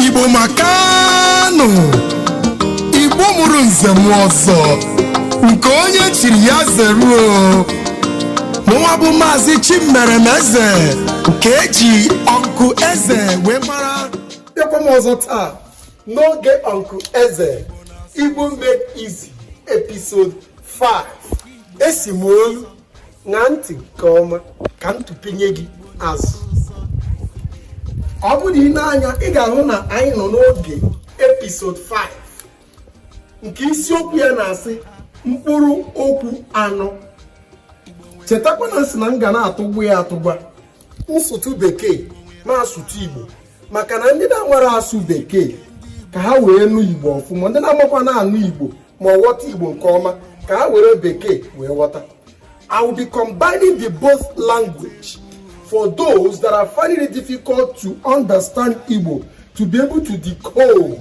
igbo makanụ igbo mụrụ nze mụọ ọzọ nke onye chiri ya zeruo mụnwa bụ maazị chimeremeze nke e ji uncle eze wee mara bịakwa m ọzọ taa n'oge uncle eze igbo made easy episode 5 esi m olu ṅaa ntị nke ọma ka m tụpinye gị azụ ọ bụrụ i nee anya ị ga-ahụ na anyị nọ n'oge episode 5 nke isiokwu ya na-asị mkpụrụ okwu anọ chetakwa na m sị na m ga na-atụgwa ya atụgwa m sụtụ bekee m asụtụ igbo maka na ndị na-amara asụ bekee ka ha wee nụ igbo ọfụma ndị na-amakwa na-anụ igbo ma ọ ghọta igbo nke ọma ka ha were bekee wee ghọta i will be combining the both language for those that are finding it difficult to understand igbo to be able to decode